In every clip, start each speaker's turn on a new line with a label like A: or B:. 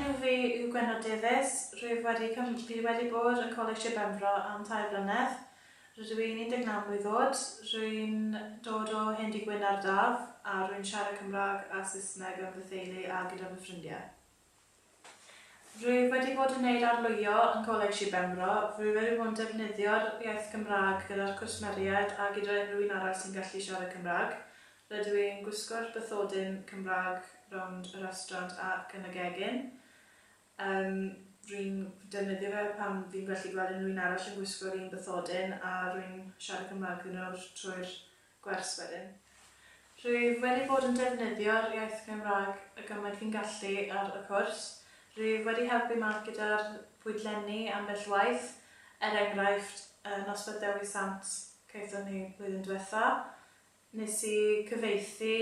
A: Fi yw Gwenno Davies, rwyf wedi cym, fi wedi bod yn Coleg Sir Benfro am tair blynedd, rydw i'n 19 mlwydd oed, rwy'n dod o Hen Dŷ Gwyn ar Daf a rwy'n siarad Cymraeg a Saesneg yn fy theulu a gyda fy ffrindiau. Rwyf wedi bod yn neud arlwyo yn Coleg Sir Benfro, rwyf wedi bod yn defnyddio'r iaith Gymraeg gyda'r cwsmeriaid a gyda unrhyw un arall sy'n gallu siarad Cymraeg, Rydw i'n gwisgo'r bathodyn Cymraeg rownd y restaurant ac yn y gegin. Yym, rwy'n defnyddio fe pan fi'n gallu gweld unrhyw un arall yn gwisgo'r un bathodyn a rwy'n siarad Cymraeg iddyn nhw trwy'r gwers wedyn. Rwyf wedi bod yn defnyddio'r iaith Gymraeg y gymaint fi'n gallu ar y cwrs. Rwyf wedi helpu Mark gyda'r pwydlenni ambell waith, er enghraifft, y noswaith Dewi Sant caethon ni blwyddyn diwetha'. Nes i gyfieithu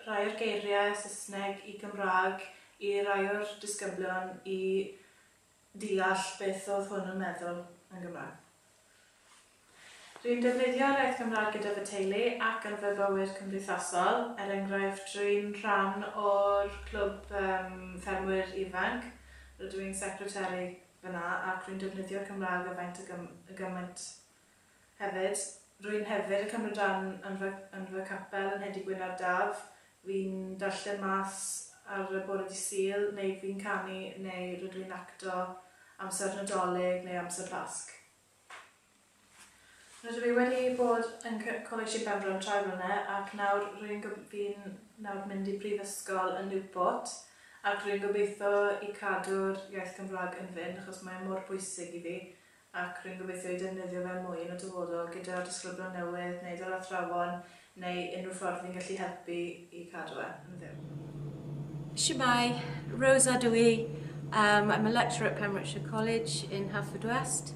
A: rhai o'r geiriau Saesneg i Gymraeg i rai o'r disgyblion i ddeall beth oedd hwn yn meddwl yn Gymraeg. Rwy'n defnyddio'r iaith Gymraeg gyda fy teulu ac yn fy bywyd cymdeithasol, er enghraifft, rwy'n rhan o'r clwb ffermwyr ifanc, rydw i'n secretary fan'na ac rwy'n defnyddio'r Gymraeg â faint a gymaint Hefyd, rwy'n hefyd yn cymryd rhan yn fy yn fy capel yn Nhedi Gwyn ar Daf, fi'n darllen Mass ar y bore dydd Sul, neu fi'n canu neu rydw i'n acto amser Nadolig neu amser Pasg. Rydw i wedi bod yn c- Coleg Sir Benfro am tair blynedd ac nawr rwy'n go- fi'n nawr mynd i brifysgol yn Newport ac rwy'n gobeithio i cadw'r iaith Gymraeg yn fynd achos mae e mor bwysig i fi ac rwy'n gobeithio ei defnyddio fe mwy yn y dyfodol gyda'r disgyblion newydd neu fel athrawon neu unrhyw ffordd fi'n gallu helpu i cadw e yn fyw. Shwmae,
B: Rosa dw i. Um, I'm a lecturer at Pembrokeshire College in Haverfordwest.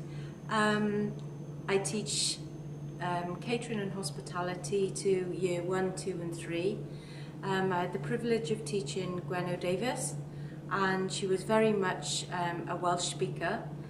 B: Um, I teach um, catering and hospitality to year 1, 2 and 3. Um, I had the privilege of teaching Gwen O'Davis and she was very much um, a Welsh speaker.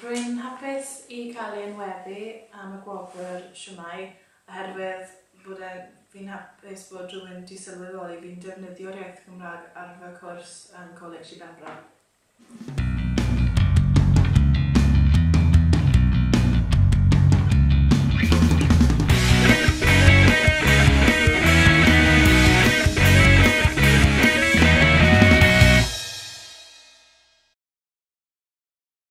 A: Rwy'n hapus i cael ei enwebu am y gwobr Shwmae! oherwydd bod e, fi'n hapus bod rhywun wedi sylweddoli fi'n defnyddio'r iaith Gymraeg ar fy cwrs yn Coleg Sir Benfro.